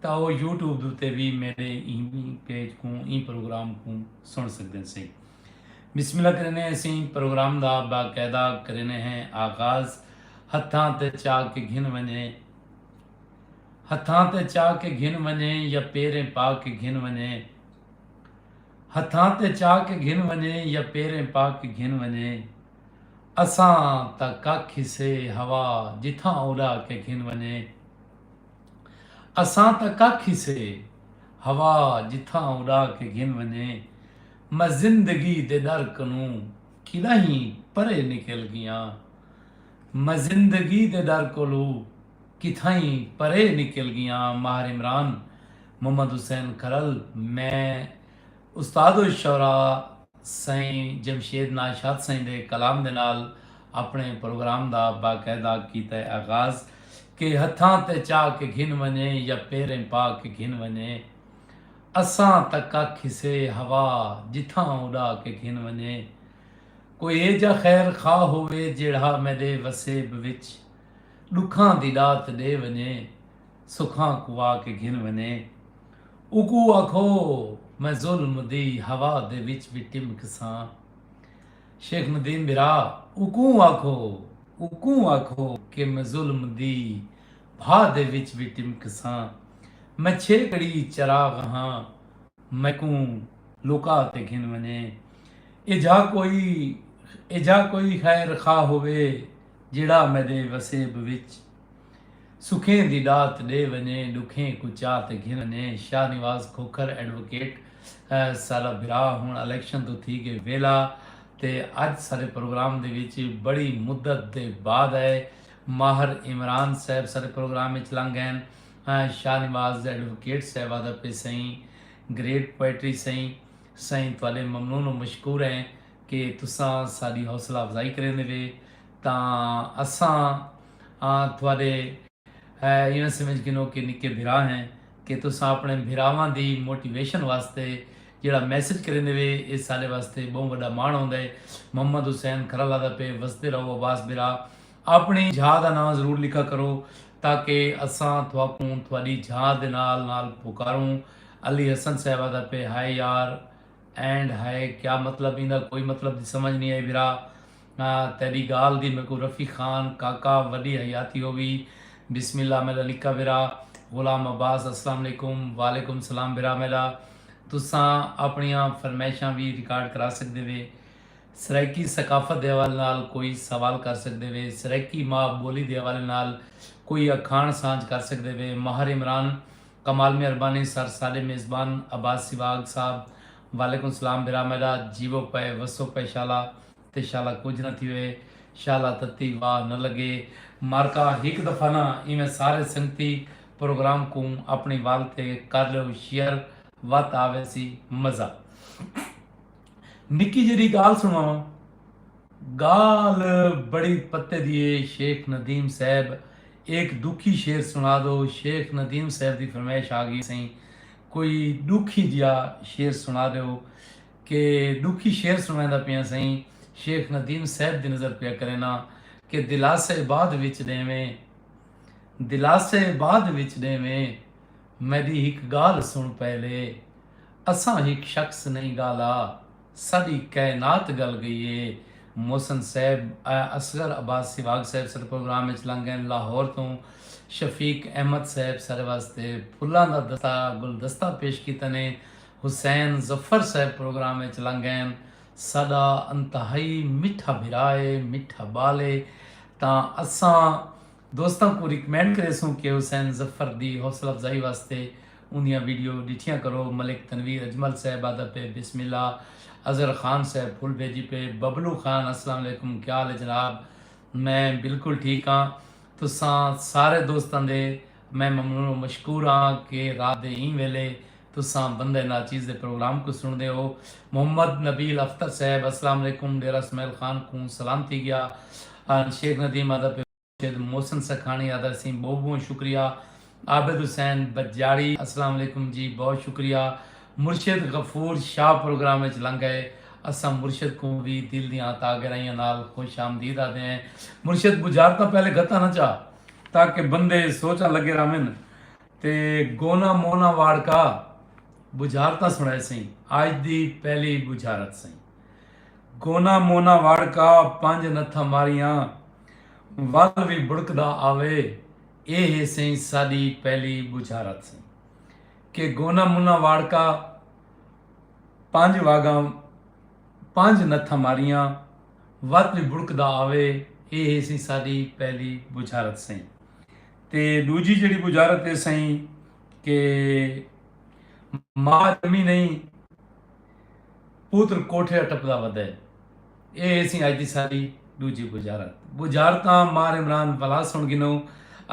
تاں او YouTube دے اتے وی میڈے ایں پیج کوں ایں پروگرام کوں سنڑ سگدیں سئیں۔ بسم اللہ کریندے ہیں سئیں پروگرام دا باقاعدہ کریندے ہیں آغاز ہتھاں تے چا کے گھن ونجے ہتھاں تے چا کے گھن ونجے یا پیریں پا کے گھن ونجے ہتھاں تے چا کے گھن ونجے یا پیریں پا کے گھن ونجے اساں تاں ککھ ہسے ہوا جتھاں اڑا کے گھن ونجے۔ اساں تاں ککھ ہی سے ہوا جتھاں اݙا کے گھن ونڄے میں زندگی دے ݙر کنوں کݙاہیں پرے نکل ڳیاں میں زندگی دے ݙر کولو کتھائیں پرے نکل ڳیاں ماہر عمران محمد حسین کھرل میں استاد الشعراء سائیں جمشید ناز شاد سائیں دے کلام دے نال اپݨے پروگرام دا باقاعدہ کیتا ہے آغاز کہ ہتھاں تے چاہ کے گھن ونڄے یا پیریں پا کے گھن ونڄے اساں تاں ککھ کھسے ہوا جتھاں اݙا کے گھن ونڄے کوئی ایجھا خیر خواہ ہووے جیڑھا میݙے وسیب وچ ݙکھاں دی ݙات ݙے ونڄے سکھاں کوں آ کے گھن ونڄے۔ اوکوں آکھو میں ظلم دی ہوا دے وچ وی ٹمکساں۔ شیخ ندیم بھرا اوکوں آکھو اوکوں آکھو کہ میں ظلم دی بھا دے وچ وی ٹمکساں۔ میں چھیکڑی چراغ ہاں میکوں لکا تے گھن ونجے۔ ایجھا کوئی ایجھا کوئی خیر خواہ ہووے جیڑھا میڈے وسیب وچ۔ سکھیں دی ݙات ݙے ونڄے ݙکھیں کوں چا تے گھن ونڄے شاہ نواز کھوکھر ایڈووکیٹ سارا بھرا ہݨ الیکشن توں تھی ڳئے ویلا تے اڄ سارے پروگرام دے وچ بڑی مدت دے بعد آئے ماہر عمران صاحب سارے پروگرام وچ لنگ ڳئن شاہ نواز ایڈووکیٹ صاحب آہدا پئے سئیں گریٹ پوئٹری سئیں سئیں تہاݙے ممنون و مشکور ہیں کہ تساں ساݙی حوصلہ افزائی کریندے وئے تاں اساں آں تہاݙے ایویں سمجھ گھنو کہ نکے بھرا ہیں کہ تساں اپݨے بھراواں دی موٹیویشن واسطے جیڑھا میسج کریندے وے ایہ ساݙے واسطے ٻہوں وݙا ماݨ ہوندے محمد حسین کھرل آہدا پئے وسدے رہو عباس بھرا اپݨی جھا دا ناں ضرور لکھا کرو تاکہ اساں تہاکوں تہاݙی جھا دے نال نال پکاروں علی حسن صاحب آہدا پئے ہائے یار اینڈ ہائے کیا مطلب ایندا کوئی مطلب دی سمجھ نی آئی بھرا نا تیڈی گال دی میکوں رفیق خان کاکا وڈی حیاتی ہووی بسم اللہ میڈا نکا بھرا غلام عباس السلام علیکم وعلیکم سلام بھرا میڈا تساں اپنڑیاں فرمیشاں وی ریکارڈ کرا سکدے وے سرائیکی ثقافت دے حوالے نال کوئی سوال کر سکدے وے سرائیکی ماء بولی دے حوالے نال کوئی اکھاݨ سانجھ کر سکدے وے ماہر عمران کمال مہربانی سر ساڈے میزبان عباس سیواگ صاحب وعلیکم سلام بھرا میڈا جیوو پئے وسو پئے شالا تے شالا کجھ نہ تھیوے۔ شالا تتی واہ نہ لگے۔ مارکا ہک دفعہ نہ ایویں سارے سنگتی پروگرام کوں اپنی وال تے کر لیو شیئر وت آ ویسی مزہ۔ نکی جیرھی گالھ سنواواں۔ گالھ بڑی پتے دی ہے شیخ ندیم صاحب ایک ڈوکھی شعر سنا دو شیخ ندیم صاحب دی فرمائش آ گئی سئیں کوئی ڈوکھی جیا شعر سنا دیو۔ کہ ݙکھی شعر سݨویندا پیاں سئیں شیخ ندیم صیب دی نظر پیا کرینداں کہ دلاسے بعد وچ ݙیویں دلاسے بعد وچ ݙیویں میݙی ہک ڳالھ سݨ پہلے اساں ہک شخص نئیں ڳالھا ساݙی کائنات ڳل ڳئی اے محسن صیب اصغر عباس سیواگ صیب ساݙے پروگرام وچ لنگ ڳئن لاہور توں شفیق احمد صیب ساݙے واسطے پھلاں دا گلدستہ پیش کیتے نے حسین ظفر صاحب پروگرام اچ لنگھین ساڈا انتہائی مٹھا بھرا اے مٹھا بال اے تاں اساں دوستاں کوں ریکمینڈ کریسوں کہ حسین ظفر دی حوصلہ افزائی واسطے اوندیاں ویڈیو ڈٹھیاں کرو ملک تنویر اجمل صاحب آدا پئے بسم اللہ اظہر خان صاحب پھول بھیجی پئے ببلو خان السلام علیکم کیا حال اے جناب میں بالکل ٹھیک آں تساں سارے دوستاں دے میں ممنون و مشکور ہاں کہ رات دے ایں ویلے تساں بندہ ناچیز دے پروگرام کوں سنڑدے ہو۔ محمد نبیل اختر صاحب السلام علیکم ڈیرہ اسماعیل خان کوں سلام تھی گیا ان شیخ ندیم آدا پے مرشد محسن سکھانی آدا سیں بہوں بہوں شکریہ عابد حسین بجاڑی السلام علیکم جی بہوں شکریہ مرشد غفور شاہ پروگرام اچ لنگ گئے اساں مرشد کوں وی دل دیاں تاں گہرائیاں نال خوش آمدید آدے ہیں مرشد بجارتاں پہلے گھتاں نہ چا۔ تاکہ بندے سوچاں لگے رہون تے گونا مونا واڑ کا بجھارتاں سنڑائے سئیں آج دی پہلی بجھارت سئیں گونا مونا واڑ کا پنج نتھاں ماریاں ول وی بڑکدا آوے اے ہے سئیں ساڈی پہلی بجھارت سئیں کہ گونا مونا واڑ کا پنج واگاں پنج نتھاں ماریاں، وت وی بڑکدا آوے، اے ہے سئیں ساڈی پہلی بجھارت سئیں۔ تے ڈوجھی جیڑھی بجھارت ہے سئیں کہ ماء جمی نئیں پوتر کوٹھیا ٹپدا ودے، اے ہے سئیں اج دی ساڈی ڈوجھی بجھارت۔ بجھارتاں مار عمران بھلا سن گھنوں،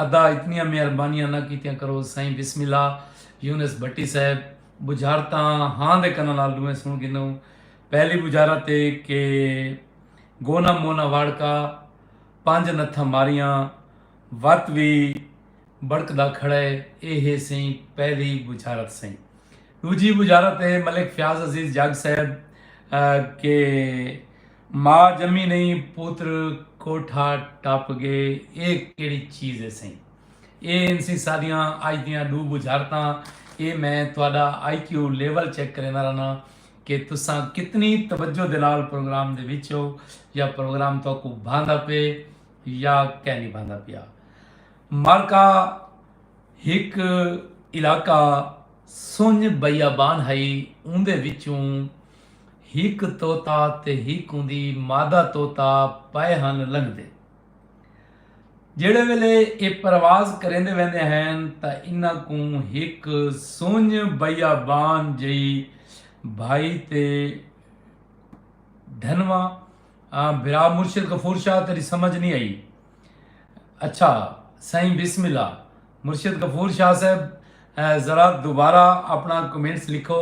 ادا اتنیاں مہربانیاں نہ کیتیاں کرو سئیں بسم اللہ یونس بھٹی صاحب بجھارتاں ہاں دے کناں نال ڈوہیں سنڑ گھنوں۔ پہلی بجھارت اے کہ گونا مونا واڑکا پنج نتھاں ماریاں وت وی بڑکدا کھڑے اے ہے سئیں پہلی بجھارت سئیں۔ ڈوجھی بجھارت اے ملک فیاض عزیز جگ صاحب کہ ماء جمی نئیں پوتر کوٹھا ٹپ گئے اے کیڑھی چیز اے سئیں۔ اے ہنسیں ساڈیاں اج دیاں ڈو بجھارتاں اے میں تہاڈا آئی کیو لیول چیک کریندا رہنا کہ تساں کتنی توجہ دے نال پروگرام دے وچ ہو یا پروگرام تہاکو بھاندا پے یا کہہ نہیں بھاندا پیا مارکا ہک علاقہ سنج بیابان ہئی اوندے وچوں ہک طوطا تے ہک اوندی مادہ طوطا پئے ہن لنگدے جیڑھے ویلے اے پرواز کریندے ویندے ہین تا انہاں کوں ہک سنج بیابان جئی بھائی تے دھنوا بھرا مرشد غفور شاہ تیری سمجھ نہیں آئی اچھا سائیں بسم اللہ مرشد غفور شاہ صاحب ذرا دوبارہ اپنا کمنٹس لکھو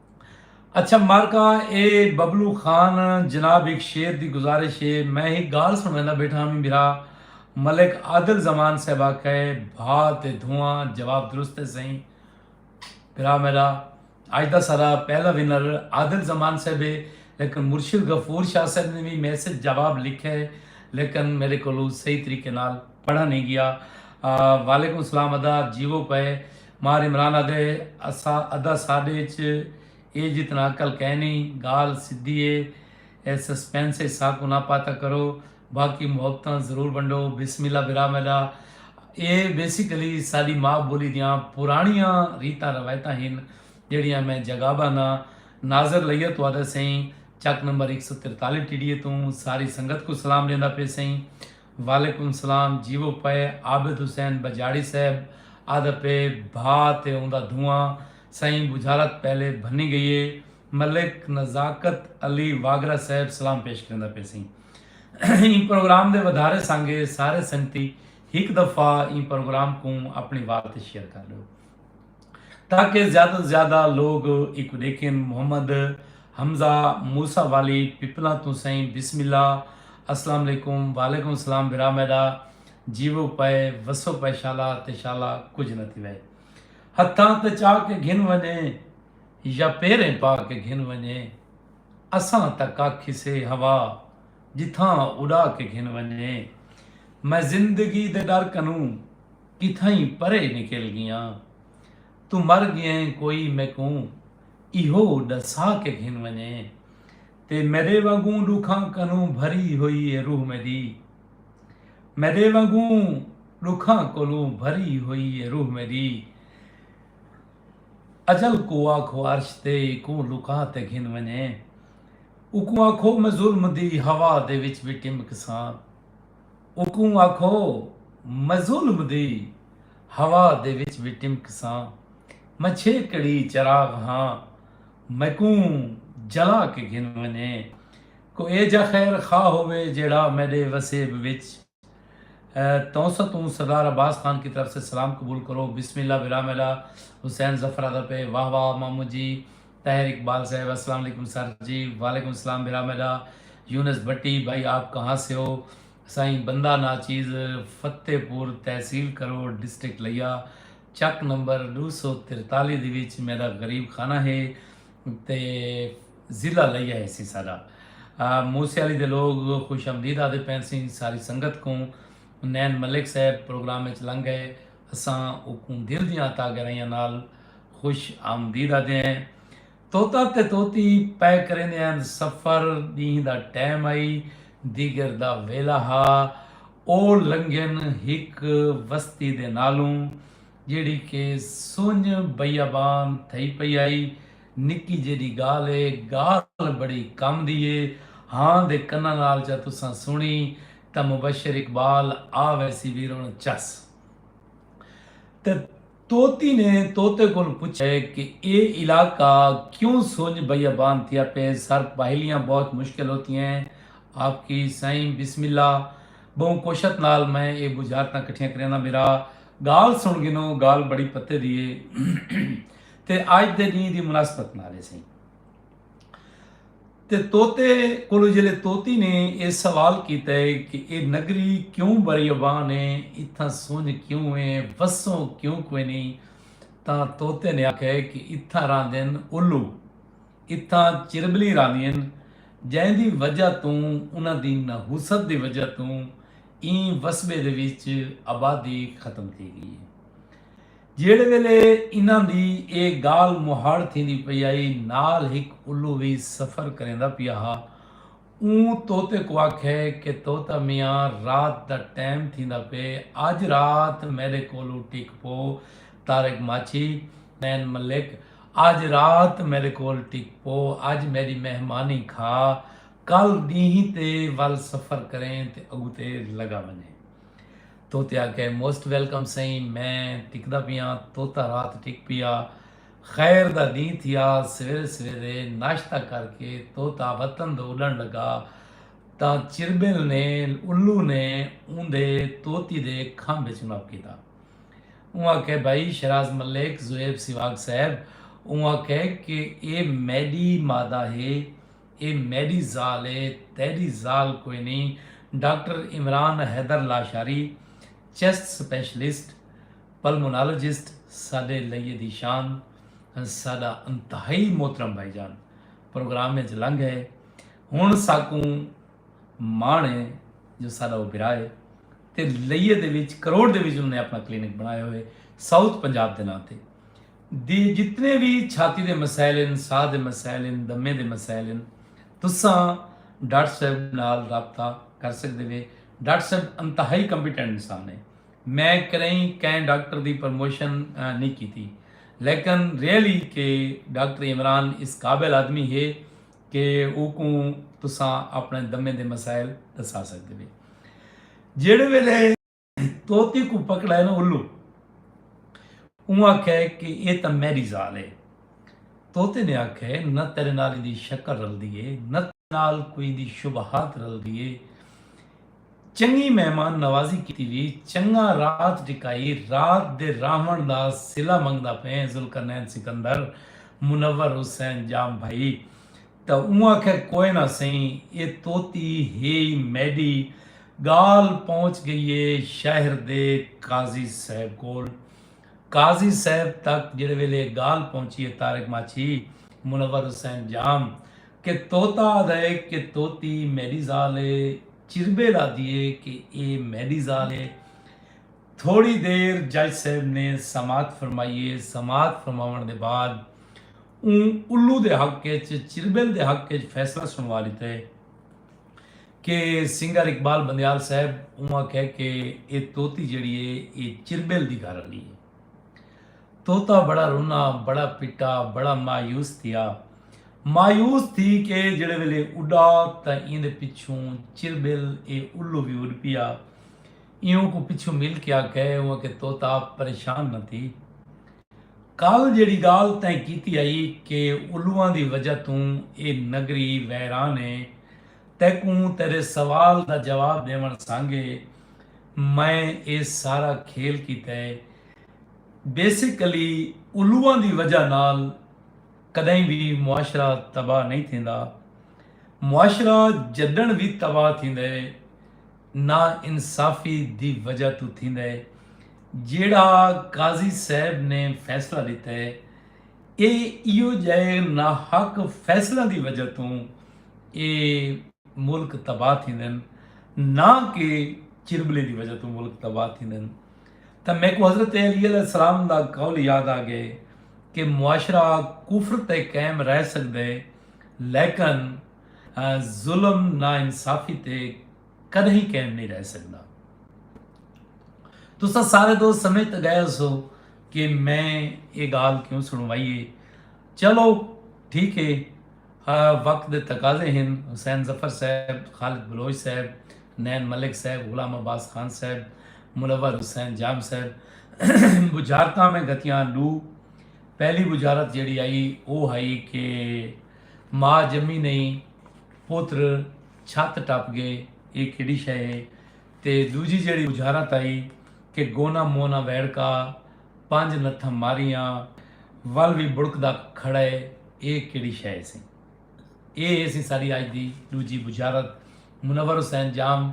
اچھا مارکا اے ببلو خان جناب ہک شعر دی گزارش اے میں ہک گالھ سنڑیندا بیٹھا ہاں میرا ملک عادل زمان صاحب آکھا اے بھا تے دھواں جواب درست اے سئیں بھرا میڈا اج دا سارا پہلا ونر عادل زمان صاحب اے لیکن مرشد غفور شاہ صاحب نے بھی میسج جواب لکھا اے لیکن میرے کولو صحیح طریقے نال پڑھا نہیں گیا وعلیکم السلام ادا جیوو پئے مار عمران آدھے ادا ساڈے اچ اے جتنا عقل کینی گال سدھی اے اے سسپنس اچ ساکوں نہ پاتا کرو باقی محبتاں ضرور ونڈو بسم اللہ برا میڈا اے بیسیکلی ساڈی ماں بولی دیاں پرانیاں ریتاں روایتاں ہن جیڑیاں میں جگاباں نا ناظر لئیہ تو آدھا سئیں چک نمبر اک سو ترتالی ٹی ڈی اے توں ساری سنگت کو سلام ڈیندا پے سئیں وعلیکم سلام جیوو پئے عابد حسین بجاڑی صاحب آدا پئے بھا تے اوندا دھواں سائیں بجھالت پہلے بھنی گئیے ملک نزاکت علی واگرا صاحب سلام پیش کریندا پئے سیں ایں پروگرام دے ودھارے سانگے سارے سنگتی ہک دفعہ ایں پروگرام کوں اپنی وال تے شیئر کر ڈیو۔ تاکہ زیادہ توں زیادہ لوگ ایکوں ڈیکھن محمد حمزہ موسی والی پپلاں توں سائیں بسم اللہ السلام علیکم وعلیکم السلام برا میڈا جیو پائے وسو پائے شالا تے شالا کچھ نہ تھی وے ہتھاں تے چا کے گھن ونجے یا پیریں پا کے گھن ونجے اساں تک آکھی سے ہوا جتھاں اڑا کے گھن ونجے میں زندگی دے ڈر کنوں کتھائیں پرے نکل گیاں۔ توں مر گیئیں کوئی میکوں ایہو ڈسا کے گھن ونجے۔ تے میڈے وانگوں ڈکھاں کنوں بھری ہوئی اے روح میڈی۔ میڈے وانگوں ڈکھاں کولوں بھری ہوئی اے روح میڈی۔ اجل کوں آکھو عرش تے ایکوں لکا تے گھن ونجے۔ اوکوں آکھو میں ظلم دی ہوا دے وچ وی ٹمکساں۔ اوکوں آکھو مظلم دی ہوا دے وچ وی ٹمکساں میں چھیکڑی چراغ ہاں میکوں جلا کے گھن ونجے کو ایجھا خیر خواہ ہووے جیڑھا میڈے وسیب وچ تونسہ توں سردار عباس خان کی طرف سے سلام قبول کرو بسم اللہ برا میڈا حسین ظفرادپے واہ واہ مامو جی طاہر اقبال صاحب السلام علیکم سر جی وعلیکم السلام بھرا میڈا یونس بھٹی بھائی آپ کہاں سے ہو سائیں بندہ ناچیز فتح پور تحصیل کرو ڈسٹرکٹ لیا چک نمبر ڈو سو ترتالی دی وچ میرا غریب خانہ ہے تے ضلع لیا ہے سی سارا موسے علی دے لوگ خوش آمدید آدھے پینسیں ساری سنگت کو نین ملک صاحب پروگرام اچ لنگ گئے اساں اکوں دل دیاں عطا گرائیاں نال خوش آمدید آدھے ہیں طوطا تے طوطی پے کریندے ہن سفر ڈینہہ دا ٹیم ہئی دیگر دا ویلا ہا او لنگھن ہک وستی دے نالوں جیڑھی کہ سنج بیابان تھئی پئی ہئی نکی جیڈی گالھ ہے گالھ بڑی کم دی ہے ہاں دے کناں نال جا تساں سنی تاں مبشر اقبال آ ویسی ویرن چس تے طوطی نے طوطے کولوں پچھیا کہ اے علاقہ کیوں سنج بیابان تھیا پئے سر پہیلیاں بہت مشکل ہوتی ہیں آپ کی سائیں بسم اللہ بہوں کوشت نال میں اے بجھارتاں کٹھیاں کرینداں میرا گال سن گنو گال بڑی پتے دی اے تے آج دے ڈینہ دی مناسبت نال اے سائیں تے طوطے کولوں جیلے طوطی نے اے سوال کیتا ہے کہ اے نگری کیوں بریبان ہے اتھاں سنج کیوں ہے وسوں کیوں کوئی نہیں تاں طوطے نے آکھیا ہے کہ اتھاں راندین الو اتھاں چربلی راندین جیں دی وجہ توں انہاں دی نحوست دی وجہ توں ایں وسبے دے وچ آبادی ختم تھی گئی ہے۔ جیڑھے ویلے انہاں دی اے گالھ مہاڑ تھیندی پئی آئی نال ہک الو وی سفر کریندا پیا ہا۔ اوں طوطے کوں آکھے کہ طوطا میاں رات دا ٹیم تھیندا پئے اج رات میڈے کولوں ٹک پو۔ طارق ماچھی، نین ملک، اج رات میڈے کول ٹک پو اج میڈی مہمانی کھا کل ڈینہہ تے ول سفر کریں تے اگتے لگا ونجیں۔ توتے آکھے موسٹ ویلکم سئیں میں ٹکدا پیاں توتا رات ٹک پیا خیر دا ڈینہہ تھیا سویرے سویرے ناشتہ کر کے توتا وطن دو اڈن لگا تاں چربل نے الو نے اوندے توتی دے کھمب وچ نپ کیتا اوں آکھے بھائی شراز ملک زویب سواگ صاحب اوں آکھے کہ اے میڈی مادہ ہے اے میݙی ذال اے تیݙی ذال کوئنی، doctor Imran Haider Lashari, chest specialist, pulmonologist ساݙے لئی دی شان، ساݙا انتہائی محترم بھائی جان پروگرام اچ لنگھ ڳئے، ہݨ ساکوں ماݨ اے جو ساݙا او بھرا اے تے لئی دے وچ کروڑ دے وچ انہاں نے اپݨا کلینک بݨایا ہوئے ساؤتھ پنجاب دے ناں تے۔ دے جتنے وی چھاتی دے مسائل ہن، ساہ دے مسائل ہن، دمے دے مسائل ہن، تساں ڈاکٹر صاحب نال رابطہ کر سکدے وے۔ ڈاکٹر صاحب انتہائی کمپیٹنٹ انسان ہے۔ میں کریئں کئیں ڈاکٹر دی پرموشن نی کیتی لیکن ریئلی کہ ڈاکٹر عمران اس قابل آدمی ہے کہ اوکوں تساں اپنے دمے دے مسائل ڈسا سکدے وے۔ جیڑھے ویلے۔ طوطے کوں پکڑائے نا الو اوں آکھیا ہے کہ اے تاں میڈی ذال ہے طوطے نے آکھیا ہے نہ تیرے نال ایندی شکل رلدی ہے نہ تیرے نال کوئی ایندی شبہات رلدی ہے چنگی مہمان نوازی کیتی وی چنگا رات ٹکائی رات دے راہون دا صلہ منگدا پئے ہیں ذوالقرنین سکندر منور حسین جام بھائی تاں اوں آکھیا کوئے نہ سئیں اے طوطی ہے ای میڈی ڳالھ پہنچ ڳئی اے شہر دے قاضی صاحب کول۔ قاضی صاحب تک جیڑھے ویلے اے ڳالھ پہنچی اے طارق ماچھی، منور حسین جام، کہ طوطا آہدا اے کہ طوطی میݙی ذال اے، چربیل آہدی اے کہ اے میݙی ذال اے۔ تھوڑی دیر جج صاحب نے سماعت فرمائی اے، سماعت فرماوݨ دے بعد اوں الو دے حق اچ، چربیل دے حق اچ فیصلہ سݨوا ݙتا اے۔ کہ سنگر اقبال بندیال صاحب اوں آکھیا کہ اے طوطی جیڑی اے اے چربیل دی گھر آلی اے۔ طوطا بڑا رنا، بڑا پٹا، بڑا مایوس تھیا۔ مایوس تھی کے جیڑے ویلے اڈا تاں ایندے پچھوں چربیل اے الو وی اڈ پیا۔ اے اونکوں پچھوں مل کے آکھے اوں آکھے طوطا پریشان نہ تھی۔ کل جیڑی گالھ تیں کیتی ہئی کہ الواں دی وجہ توں اے نگری ویران اے تیکوں تیڈے سوال دا جواب ڈیونڑ سانگے میں اے سارا کھیل کیتا ہے۔ بیسیکلی الواں دی وجہ نال کڈہیں وی معاشرہ تباہ نئیں تھیندا۔ معاشرہ جڈنڑ وی تباہ تھیندا ہے نا انصافی دی وجہ توں تھیندا ہے۔ جیڑھا قاضی صاحب نے فیصلہ ڈتا ہے۔ اے ایہو جئے ناحق فیصلیاں دی وجہ توں اے ملک تباہ تھیندن نہ کہ چربلیں دی وجہ توں ملک تباہ تھیندن تاں میکوں حضرت علی علیہ السلام دا قول یاد آ گئے کہ معاشرہ کفر تے قائم رہ سکدے لیکن ظلم نا انصافی تے کدہیں قائم نہیں رہ سکدا تسا سارے دوست سمجھ تے گئے ہو سو کہ میں یہ گال کیوں سنوائی ہے چلو ٹھیک ہے وقت دے تقاضے ہیں حسین ظفر صاحب خالد بلوچ صاحب نین ملک صاحب غلام عباس خان صاحب منور حسین جام صاحب بجارتہ میں گتیاں لو پہلی بجارت جڑی آئی وہ آئی کہ ماں جمی نہیں پوتر چھت ٹپ گئے اے کیڈی شئے ہے تے دوجی جیڑھی اجھارا تائی کہ گونا مونا ویڑکا پنج نتھم ماریاں ول وی بڑکدا کھڑئے اے کیڈی شئے ہے سیں اے ہے سی ساڈی اج دی دوجی بجھارت منور حسین جام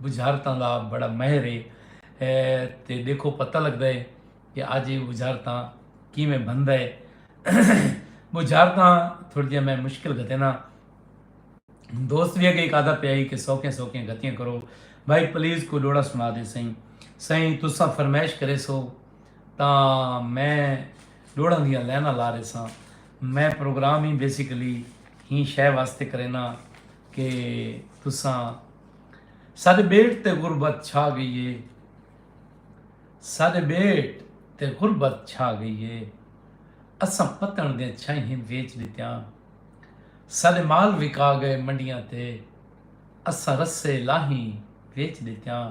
بجھارتاں دا بڑا مہر ہے تے ڈیکھو پتہ لگدا ہے کہ اج اے بجھارتاں کیویں بھندا ہے بجھارتاں تھوڑی جیاں میں مشکل گھتینا۔ دوست وی اگے ہک آدا پیا ہی کہ سوکھیاں سوکھیاں گتیاں کرو بھائی پلیز کوئی ڈوڑا سنا دے سائیں سائیں تساں فرمائش کرے سو تا میں ڈوڑا دیاں لینا لا رہے ساں میں پروگرام ہی بیسیکلی ہی شے واسطے کرینا کہ تساں سارے بیٹ تے غربت چھا گئی ہے سارے بیٹ تے غربت چھا گئی ہے اساں پتن دے چھائیں ویچ دیتیاں سارے مال وکا گئے منڈیاں تے اساں رسے لاہیں ویچ ڈتیاں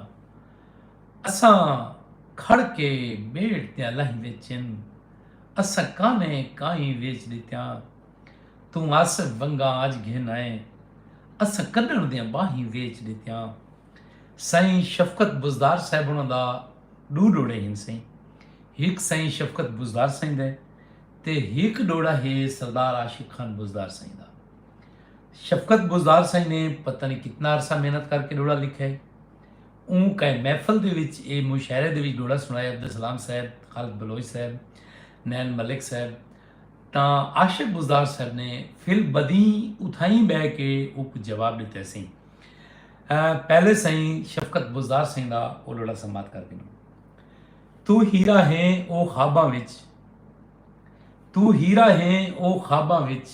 اساں کھڑ کے بیڑ تیاں لاہیں ویچن اساں کانیں کائیں ویچ ڈتیاں توں آصف ونگاں اج گھن آئے اساں کڈن دیاں باہیں ویچ ڈتیاں سائیں شفقت بزدار صاحب انہاں دا ڈو ڈوڑے ہن سائیں ہک سائیں شفقت بزدار سائیں دے تے ہک ڈوہڑا ہے سردار عاشق خان بزدار سائیں دا۔ شفقت بزدار سائیں نے پتہ نئیں کتنا عرصہ محنت کر کے ڈوہڑا لکھیا ہے۔ اوں کائے محفل دے وچ اے مشاعرے دے وچ ڈوہڑا سنڑایا عبدالسلام صاحب، خالد بلوچ صاحب، نین ملک صاحب تاں عاشق بزدار صاحب نے فل بدین اتھائیں بہہ کے اوکوں جواب ڈتے سئیں۔ پہلے سائیں شفقت بزدار سائیں دا او ڈوہڑا سماعت کر گھنوں۔ توں ہیرا ہیں او خواباں وچ۔ توں ہیرا ہیں او خواباں وچ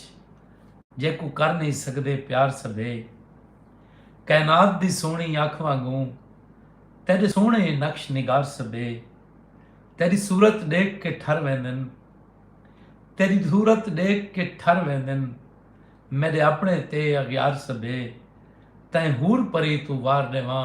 جیکوں کر نہیں سکدے پیار سبھے کائنات دی سوہنی اکھ وانگوں تیڈے سوہنے نقش نگار سبھے تیری صورت ڈیکھ کے ٹھر ویندن تیری صورت ڈیکھ کے ٹھر ویندن میڈے اپنے تے اغیار سبھے تیں حور پری توں وار ڈیواں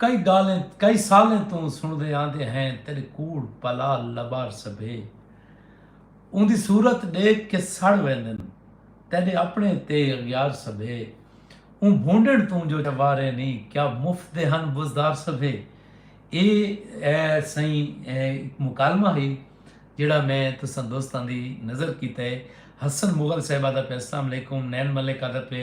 کئی گالھیں کئی سالیں توں سݨدے آندے ہیں تیݙے کوڑ پلا لبار سبھے اوندی صورت ݙیکھ کے سڑ ویندن تیݙے اپݨے تے اغیار سبھے اوں بھونڈݨ توں جو واریں نی کیا مفت دے ہن بزدار سبھے اے سئیں ہک مکالمہ ہئی جیڑھا میں تساں دوستاں دی نظر کیتے حسن مغل صاحبہ دا پے اسلام علیکم نین ملک آ دا پے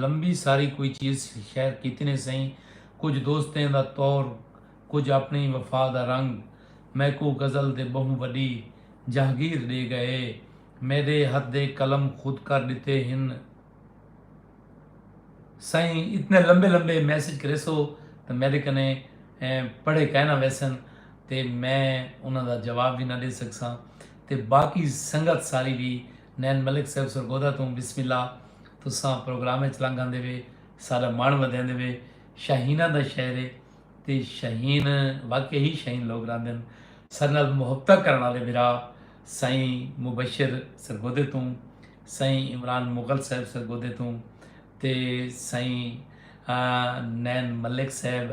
لمبی ساری کوئی چیز شیئر کیتی نے سئیں کجھ دوستیں دا طور کجھ اپنڑی وفا دا رنگ میکوں غزل دے بہوں وڈی جہگیر ڈے گئے میڈے ہتھ دے قلم خود کر ڈتے ہن سئیں اتنے لمبے لمبے میسج کریسو تے میڈے کنے پڑھے کائے نہ ویسن تے میں انہاں دا جواب وی نہ ڈے سکساں تے باقی سنگت ساری وی نین ملک صیب سرگودھا توں بسم اللہ تساں پروگرام اچ لنگ آندے وے ساڈا مݨ ودھیندے وے شاہیناں دا شہر اے تے شاہین واقعی ہی شاہین لوگ رہندن ساڈے نال محبتاں کرݨ آلے بھرا سائیں مبشر سرگودھے توں سائیں عمران مغل صاحب سرگودھے توں تے سائیں نین ملک صاحب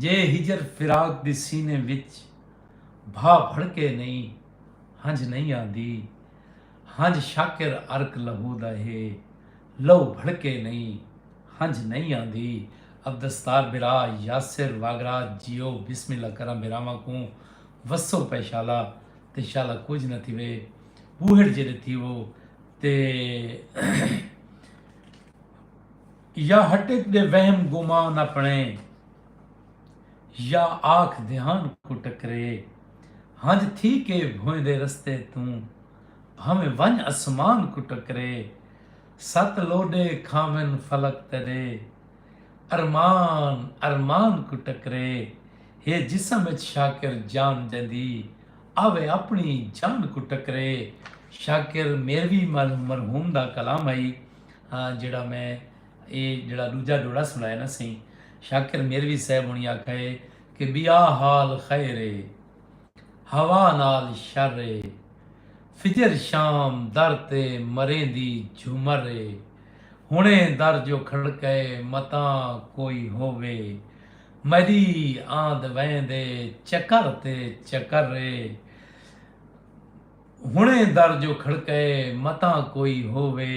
جے ہجر فراق دی سینے وچ بھا بھڑکے نئیں ہنجھ نئیں آندی ہنجھ شاکر عرق لہو دا ہے لہو بھڑکے نئیں ہنجھ نئیں آندی عبدالستار بھرا یاسر واگرا جیو بسم اللہ کراں بھراواں کوں وسو پئے شالا تے شالا کجھ نہ تھیوے بوہڑ جیڑے تھیوو تے یا ہٹک دے وہم گمان اپݨے یا آکھ دھیان کوں ٹکرے ہنج تھی کے بھویندے رستے توں بھانویں ونج اسمان کوں ٹکرے ست لوڈے کھاون فلک تیݙے ارمان ارمان کوں ٹکرے ہے جسم اچ شاکر جان جیندی آوے اپݨی جان کوں ٹکرے شاکر میروی مرحوم دا کلام ہئی۔ ہاں جیڑھا میں اے جیڑھا ڈوجھا ڈوڑا سنڑایا نا سئیں شاکر میروی صاحب ہونی آکھا ہے کہ بیا حال خیر اے ہوا نال شر اے فجر شام در تے مریندی جھمر اے ہنے در جو کھڑکے متاں کوئی ہووے مری آند ویندے چکر تے چکر اے ہݨے در جو کھڑکئے متاں کوئی ہووے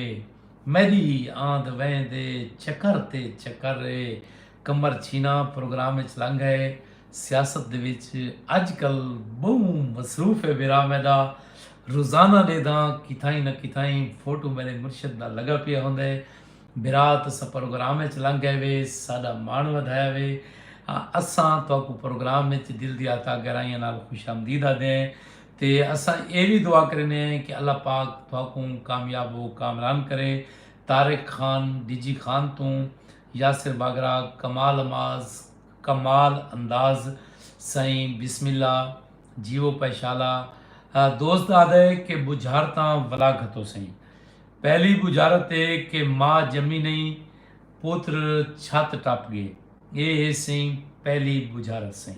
میݙی ہی آندھ ویندھ اے چکر تے چکر اے قمر چھینا پروگرام اچ لنگھ ائے سیاست دے وچ اڄ کل ٻہوں مصروف اے بھرا میݙا روزانہ ݙیدھاں کتھائیں نہ کتھائیں فوٹو میݙے مرشد دا لڳا پیا ہوندئے بھرا تساں پروگرام اچ لنگھ ائے وے ساݙا ماݨ ودھایا وے اساں تہاکوں پروگرام اچ دل دیاں تہاں گہرائیاں نال خوش آمدید آہدے ہیں۔ تے اساں ایہ وی دعا کریندے ہیں کہ اللہ پاک تہاکوں کامیاب و کامران کرے طارق خان ڈیجی خان توں یاسر باگرا کمال اماز کمال انداز سئیں بسم اللہ جیو پیشالا دوست آدھے کہ بجھارتاں ولا گھتو سئیں پہلی بجھارت اے کہ ماء جمی نہیں پتر چھت ٹپ گئے اے ہے سئیں پہلی بجھارت سئیں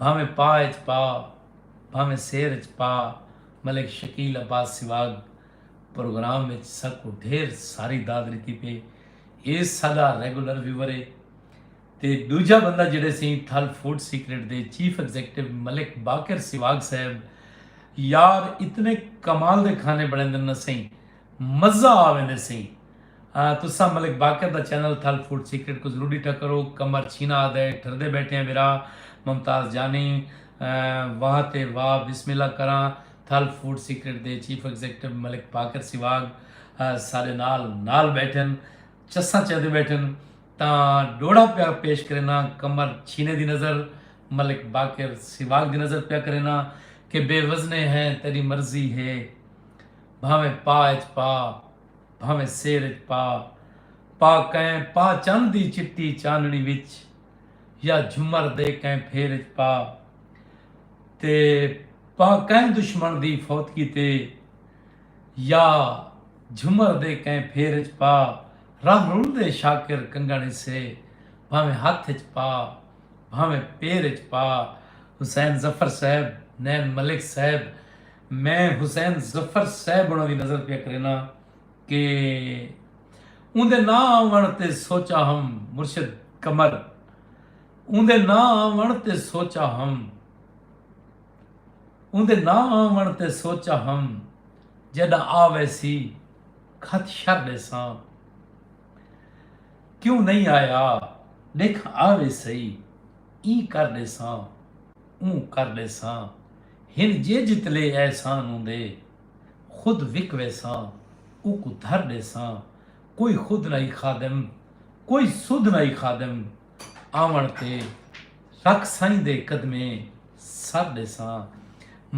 بھانویں پاء اچ پا بھانویں سیر اچ پا ملک شکیل عباس سواگ پروگرام اچ ساکوں ڈھیر ساری داد ڈتی پئے اے ساڈا ریگولر ویور اے تے ڈوجھا بندہ جیڑھے سئیں تھل فوڈ سیکرٹ دے چیف ایگزیکٹو ملک باقر سواگ صاحب یار اتنے کمال دے کھانے بنڑیندن نا سئیں مزہ آ ویندے سئیں تساں ملک باقر دا چینل تھل فوڈ سیکرٹ کوں ضرور ڈیٹھا کرو کمر چھینا آدھے ٹھردے بیٹھے ہیں ورا ممتاز جانی واہ تے واہ بسم اللہ کراں تھل فوڈ سیکرٹ دے چیف ایگزیکٹو ملک باقر سواگ سارے نال نال بیٹھن چساں چیندے بیٹھن تاں ڈوڑا پیا پیش کرینا کمر چھینے دی نظر ملک باقر سواگ دی نظر پیا کرینا کہ بے وزنے ہیں تیری مرضی ہے بھانویں پا اچ پا بھانویں سیر اچ پا پا کئیں پا چن دی چٹی چانڑی وچ یا جھمر دے کئیں پھیر اچ پا تے پا کئیں دشمن دی فوتگی تے یا جھمر دے کئیں پھیر اچ پا راہ رول دے شاکر کنگن حصے بھانویں ہتھ اچ پا بھانویں پیر اچ پا حسین ظفر صاحب نین ملک صاحب میں حسین ظفر صاحب ہونا دی نظر پیا کرینا کہ اوندے نہ آون تے سوچا ہم مرشد قمر اوندے نہ آون تے سوچا ہم اوندے نہ آون تے سوچا ہم جیڈا آ ویسی کھت شر ڈیساں کیوں نہیں آیا دیکھ آ ویسی ای کر ڈیساں اوں کر ڈیساں ہن جے جتلے احسان ہوندے خود وک ویساں اوکوں دھر ݙیساں کوئی خود نہ ای خادم کوئی سدھ نہ ای خادم آوݨ تے رکھ سائیں دے قدمیں سر ݙیساں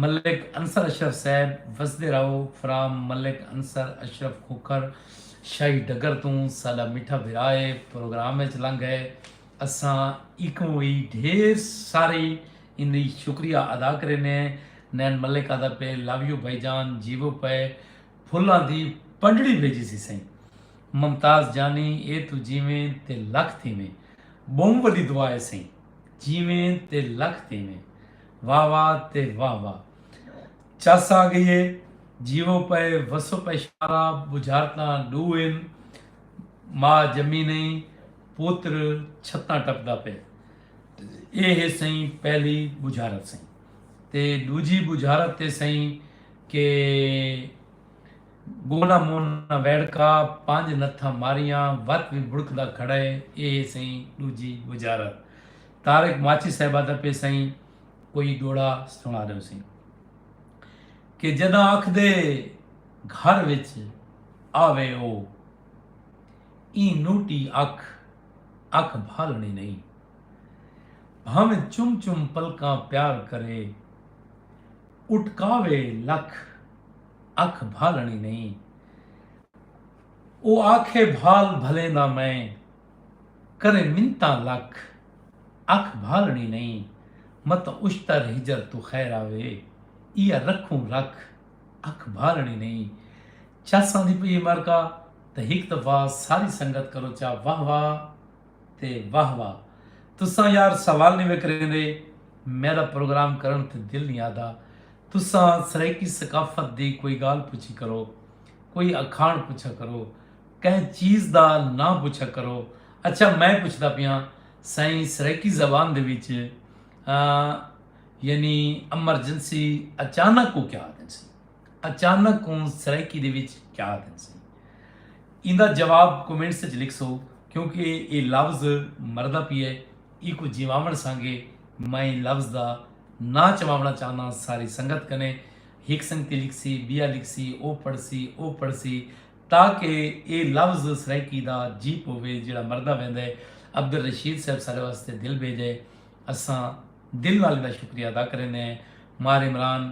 ملک انصر اشرف صاحب وسدے رہو فرام ملک انصر اشرف کھوکھر شاہی ڈگر توں ساݙا میٹھا بھرا اے پروگرام اچ لنگھ ہے اساں ایکوں وی ڈھیر ساری ایندی شکریہ ادا کرینے نین ملک آدا پے لو یو بھائی جان جیوو پئے پھلاں دی پنڈڑی بھیجیسی سئیں ممتاز جانی اے توں جیویں تے لکھ تھیویں بہوں وڈی دعا اے سئیں جیویں تے لکھ تھیویں واہ واہ تے واہ واہ چس آ گئی اے جیوو پئے وسو پئے شارا بجھارتاں ڈو ہن ماء جمی نئیں پوتر چھتاں ٹپدا پئے۔ اے ہے سئیں پہلی بجھارت سئیں تے ڈوجھی بجھارت تے سئیں کہ گولا مون نہ ویڑکا پنج نتھاں ماریاں وت وی بڑکدا کھڑا ہے اے ہے سئیں ڈوجھی بجھارت طارق ماچی صاحبہ دا پے سئیں کوئی دوڑا سنا ڈیو سئیں کہ جداں آکھدے گھر وچ آوے او ایں نوٹی اکھ اکھ بھالنڑی نئیں بھانویں چم چم پلکاں پیار کرے اٹکاوے لکھ اکھ بھالنڑی نئیں او آکھے بھال بھلیندا میں کرے منتاں لکھ اکھ بھالنڑی نئیں مت اشتر ہجر توں خیر آوے ایہا رکھوں رکھ اکھ بھالنڑی نئیں چلساں دی پئی اے مرکہ تاں ہک دفعہ ساری سنگت کرو چا واہ واہ تے واہ واہ تساں یار سوال نی وے کریندے میڈا پروگرام کرن تے دل نی آہدا تساں سرائیکی ثقافت دی کوئی گال پچھی کرو کوئی اکھاݨ پچھا کرو کہیں چیز دا ناں پچھا کرو اچھا میں پچھدا پیاں سائیں سرائیکی زبان دے وچ ا یعنی امرجنسی اچانک کوں کیا آہدن سی؟ اچانک کوں سرائیکی دے وچ کیا آکھدن سئیں؟ ایندا جواب کومنٹس اچ لکھسو کیونکہ ایہ لفظ مردا پیا ہے ایکوں جیواوݨ سانگے میں لفظ دا ناں چواوݨا چاہنداں ساری سنگت کنے ہک سنگتی لکھسی بیا لکھسی او پڑھسی او پڑھسی تاکہ ایہ لفظ سرائیکی دا جی پووے جیڑھا مردا ویندا ہے عبدالرشید صاحب سارے واسطے دل بھیجے اساں دل نال ایندا شکریہ ادا کریندے ہیں مار عمران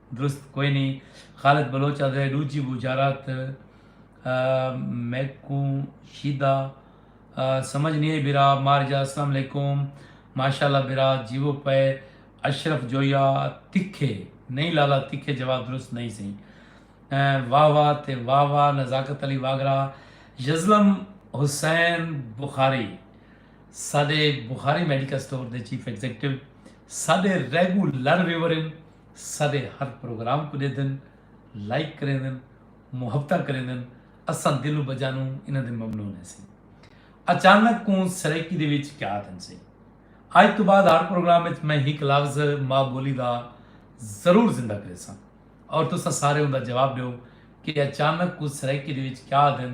درست کوئ نی خالد بلوچ آدھے ڈوجھی وجارت میکوں شیدا سمجھ نی آئی برا مار جا السلام علیکم ماشاءاللہ برا جیوو پئے اشرف جویا تکھے نئی لالا تکھے جواب درست نئی سئی واہ واہ تے واہ واہ نزاکت علی واگرا یزلم حسین بخاری ساڈے بخاری میڈیکل سٹور دے چیف ایگزیکٹو ساڈے ریگولر ویور ہیں ساڈے ہر پروگرام کوں ڈیدن لائک کریندن محبتاں کریندن اساں دل و بجانوں انہاں دے ممنون ہیسیں اچانک کوں سرائیکی دے وچ کیا تھن سیں اج تو بعد ہر پروگرام وچ میں ہک لفظ ماں بولی دا ضرور زندہ کریساں اور تساں سارے اوندا جواب ڈیو کہ اچانک کوں سرائیکی دے وچ کیا تھن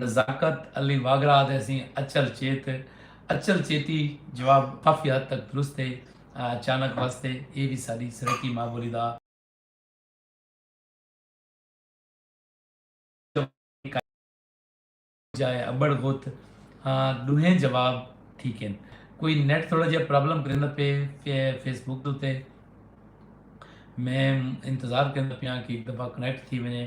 نزاکت علی واگڑا آہدے اسیں اچل چیت، اچل چیتی جواب کافی حد تک درست ہے۔ اچانک وست ہے۔ ایہ وی ساݙی سرائیکی ماء ٻولی دا۔ جواب ہے۔ ابڑ غت ہاں ݙوہیں جواب ٹھیک ہن۔ کوئی نیٹ تھوڑا جیہا پرابلم کریندا پئے فیس بک دے اتے۔ میں انتظار کریندا پیاں کہ ہک دفعہ کنیکٹ تھی ونڄے۔